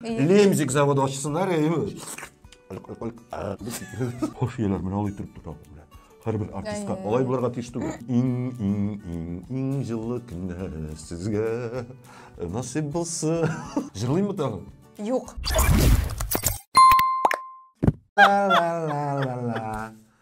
Лемзик заводы ачсыннар, әйе. Хош ияләр, менә алай торып тора белән. Һәрбер артистка алай булырга тиеш түгел. Иң иң иң иң җылы көннәр сезгә насыйп булсын. Җырлыймы тагын? Юк.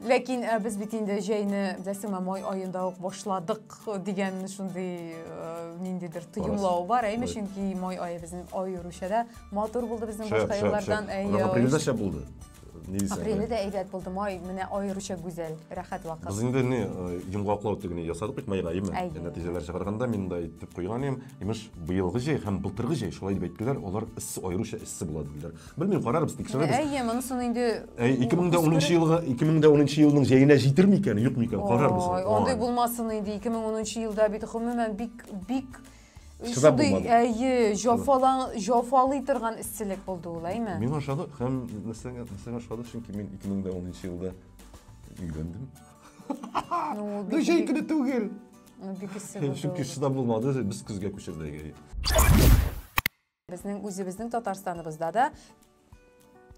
Ләкин э, без бит инде җәйне беләсеңме май аенда ук башладык дигән шундый э, ниндидер тоемлау бар әйме чөнки май ае безнең аеруча да матур булды безнең башка еллардан әйе булды апреле дә әйбәт булды май менә аеруча гүзәл рәхәт вакыт без инде не э, йомгаклау тегене ясадык бит майга әйме нәтиҗәләр чыгарганда мин да әйтеп куйган идем имеш быелгы җәй һәм былтыргы җәй шулай дип әйттеләр алар эссе аеруча эссе була диделәр Белмим, карарбыз, тикшерербез. Әйе, монысын инде Әй, 2010 елга, 2010 елның җәенә җитер микән, юк микән, карарбыз. Ой, андый булмасын инде, 2010 елда бит гомумән бик бик Шыдап булмады. Әйе, җафалан, җафалый торган эсселек булды ул, әйме? Мин ошады, һәм нәрсәгә, нәрсәгә ошады, чөнки мин 2010 елда өйләндем. Ну, бик... Җәй көне түгел. Ну, бик эссе булды. Чөнки шыдап булмады, без көзгә күчердек. Безнең үзебезнең Татарстаныбызда да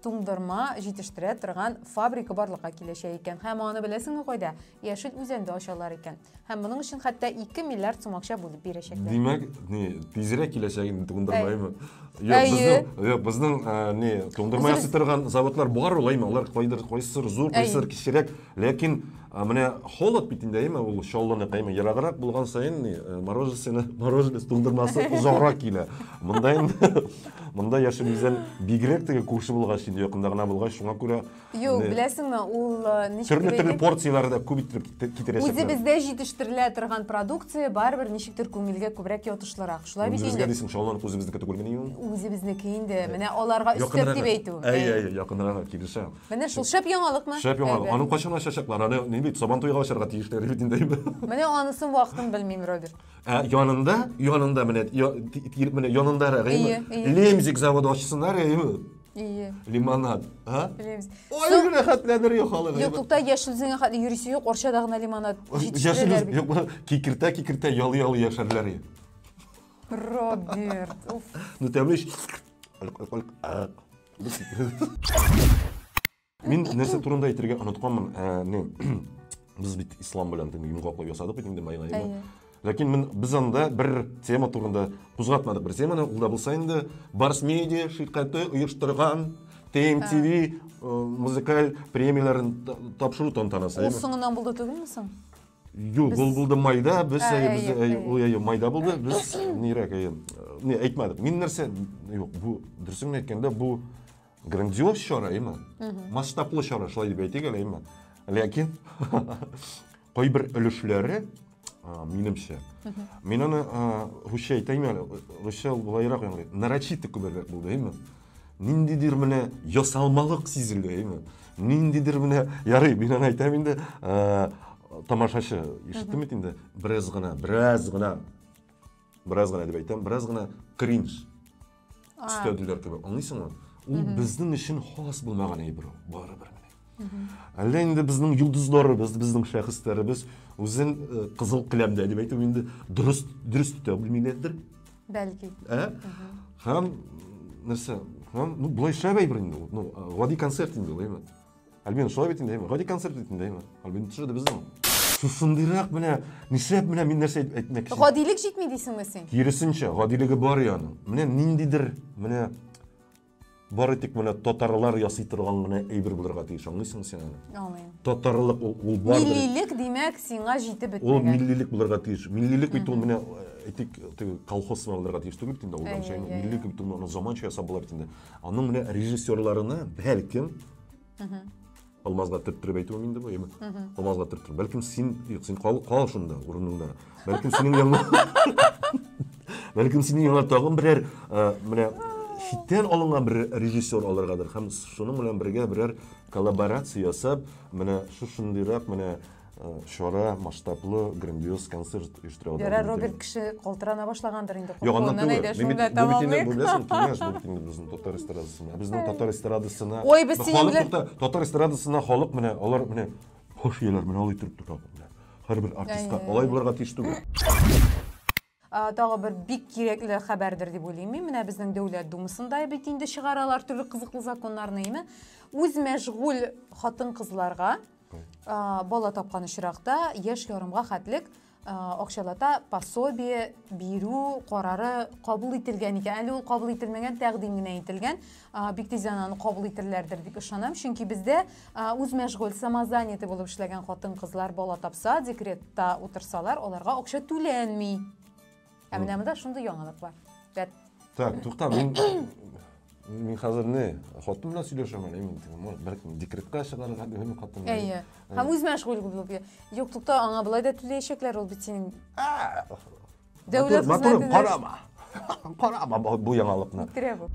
туңдырма җитештерә торган фабрика барлыкка киләчәк икән. Һәм аны беләсеңме кайда? Яшел Үзәндә ачалар икән. Һәм моның өчен хәтта 2 миллиард сум акча бүлеп бирәчәкләр. Димәк, ни, тизрәк киләчәген туңдырмаймы? Юк, безнең, юк, безнең, ни, туңдырма ясый торган заводлар бар ул, әйме, алар кайдыр, кайсыр зур, кайсыр кечерәк. Ләкин менә холод бит инде, әйме, ул чаллыны кайма ераграк булган саен ни, э, мороженое, мороженое туңдырмасы озаграк килә. Монда инде монда яшен үзен бигрәк теге күрше булгач инде якында гына булгач, шуңа күрә Юк, беләсеңме, ул э, ничек төрле төрле порцияләре дә күп итеп китерәчәк. Үзе бездә җитештерелә торган продукция барыбер ничектер күңелгә күбрәк ятышлырак. Шулай бит инде. Үзебезгә дисең, чаллыны үзебезнеке түгелмени ул? Үзебезнеке инде. Менә аларга өстәп дип әйтү. Әй, әй, якынрак килешәм. Менә шул шәп яңалыкмы? Шәп яңалык. Әйбәт. Аның кайчан ачачаклар? Аны ни бит, Сабан туйга ачарга тиешләр бит инде. Менә анысын вакытын белмим, Роберт. Ә янында, янында менә, я- ти- ти- менә янында Ие, рәгыйме? ие. Лемзик заводы ачсыннар, әйеме? Ие. Лимонад, а? Лемз. Ой, Соң- генә хәтләдер я халык. Юк, тукта, яшел үзеңә хәтле йөрисе юк, Орчада гына лимонад Яшел җитештерәләр бит. юк, кикертә, кикертә, ялы ялы яшәрләр. я. Роберт, уф. Ну тәмле ич. Алык, алык, алык. Мин нәрсә турында әйтергә онытканмын, ә, не, без бит ислам белән дин йомгаклап ясадык бит инде майнайны. Әйе. Ләкин мен, без анда бер тема турында кузгатмадык. Бер теманы ул да булса инде Барс медиа ширкәте оештырган TMTV э, музыкаль премияләрен та- тапшыру тантанасы. Ул әйеме? соңыннан булды түгелме соң? Юк, ул булды майда, без әйе, майда булды, без нирәк әйе. Не, әйтмәдек. Мин нәрсә, юк, бу дөресен әйткәндә бу грандиоз чара, әйме? Масштаблы чара, шулай дип әйтик әле, әйме? Ләкин кайбер өлешләре минемчә. Мин аны русча әйтәм әле, русча булайрак яңгырый. Нарочито күбрәк булды, әйме? ниндидер менә ясалмалык сизелде әйме ниндидер менә ярый мин аны әйтәм инде ә, тамашачы ишеттеме бит инде бераз гына бераз гына бераз гына дип әйтәм бераз гына кринж өстәделәр кебек аңлыйсыңмы ул безнең өчен хас булмаган әйбер ул барыбер менә Әллә инде безнең йолдызларыбыз, безнең шәхесләребез үзен э, кызыл келәмдә дип әйтү инде дөрес дөрес тә белмиләрдер. Бәлки. Ә? Һәм нәрсә? Һәм ну болай шәп әйбер инде ул. Ну, гади концерт инде ул, әйме? Альбин шулай бит инде, әйме? Гади концерт бит инде, әйме? Альбин төшерде безнең. Шушындыйрак менә, нишләп менә мин нәрсә әйтмәкче? Гадилек җитми дисеңме син? Киресенчә, гадилеге бар яның. Менә ниндидер, менә Бары тик менә татарлар ясый торган гына әйбер булырга тиеш, аңлыйсыңмы син аны? Аңлыйм. Татарлык ул, ул бар. Миллилек, димәк, сиңа җитеп бетмәгән. Ул миллилек булырга тиеш. Миллилек бит ул менә э, әйтик, теге колхоз сыман булырга тиеш түгел бит инде алдан чәйне. Миллилек бит ул заманча ясап була бит инде. Аның менә режиссерларына бәлкем Алмазга төрттереп әйтүем инде бу, яме. Алмазга төрттереп. Бәлкем син, юк, син кал, кал шунда, урыныңда. Бәлкем синең янга... Бәлкем синең янга тагын берәр, э, менә читтән алынган бер режиссер алыргадыр һәм шуның белән бергә берәр коллаборация ясап, менә шушындыйрак, менә Э, чара масштаблы грандиоз концерт оештыралар ярар роберт кеше калтырана башлагандыр инде юк аннан түгел беләсең киңәш бу бит инде безнең татар эстрадасына ә безнең татар эстрадасына ой без синең белән татар эстрадасына халык менә алар менә хуш ияләр менә алай торып тора һәрбер артистка алай булырга тиеш түгел Тагы бер бик кирәкле хәбәрдер дип уйлыйм мин. Менә безнең Дәүләт Думасында бит инде чыгаралар төрле кызыклы законнарны, име? Үз мәшгуль хатын-кызларга бала тапкан очракта яшь ярымга хәтлек акчалата пособие бирү карары кабул ителгән икән. Әле ул кабул ителмәгән, тәкъдим генә ителгән. бик тиздән аны кабул итерләрдер дип ышанам чөнки бездә үз мәшгуль самозанятый булып эшләгән хатын кызлар бала тапса декретта утырсалар аларга акча түләнми ә менә монда шундый яңалык бар рәт так тукта мин мин хәзер не хатын белән сөйләшәм әле мин тегем бәлкем декретка чыгарга дигән хатын әйе һәм үз мәшгуль булып юк тукта аңа болай да түләячәкләр ул бит синең Дәүләт хезмәтендә... Карама! Карама бу яңалыкны. Үтерә бу.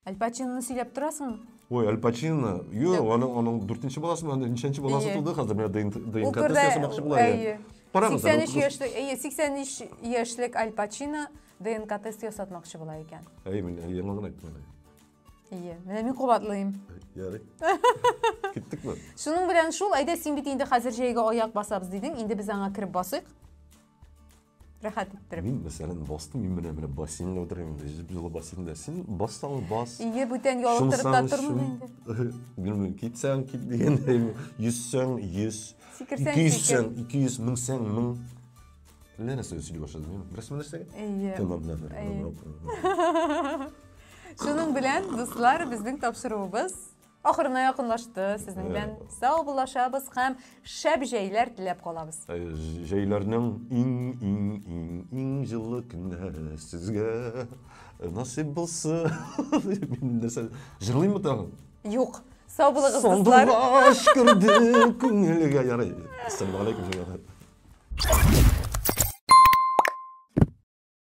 Аль Пачиноны сөйләп торасың. Ой, Аль Пачино. Юк, аның аның 4нче баласы ма, ничәнче баласы туды хәзер менә ДНК тест ясамакчы була. Әйе. 83 яшьлек, әйе, 83 яшьлек Аль Пачино ДНК тест ясатмакчы була икән. Әйе, мин яңа гына әйттем. Әйе, менә мин кабатлыйм. Ярый. Киттекме? Шуның белән шул, әйдә син бит инде хәзер җәйгә аяк басабыз дидең, инде без аңа кереп басыйк. Рәхәт иттереп. Мин мәсәлән бастым, мин менә менә бассейнда утырам инде, җеп җылы бассейнда. Син бассаң бас. Ие, бүтән ялыктырып та тормыйм инде. Белмим, китсәң кит дигәндәй, йөзсәң йөз. Сикерсәң сикер. 200 сәң, 200 меңсәң мең. Менә нәрсә сөйли башлады, мин беләсең нәрсәгә? Әйе. Тема белән. Шуның белән, дуслар, безнең тапшыруыбыз ахырына якынлашты. Сезнең белән сау булашабыз һәм шәп җәйләр теләп калабыз. Җәйләрнең иң иң иң иң җылы көннәре сезгә насыйп булсын. Мин нәрсә җырлыйммы тагын? Юк. Сау булыгыз, дуслар. Сандугач керде күңелгә ярый. Ассаламу алейкум, җәмәгать.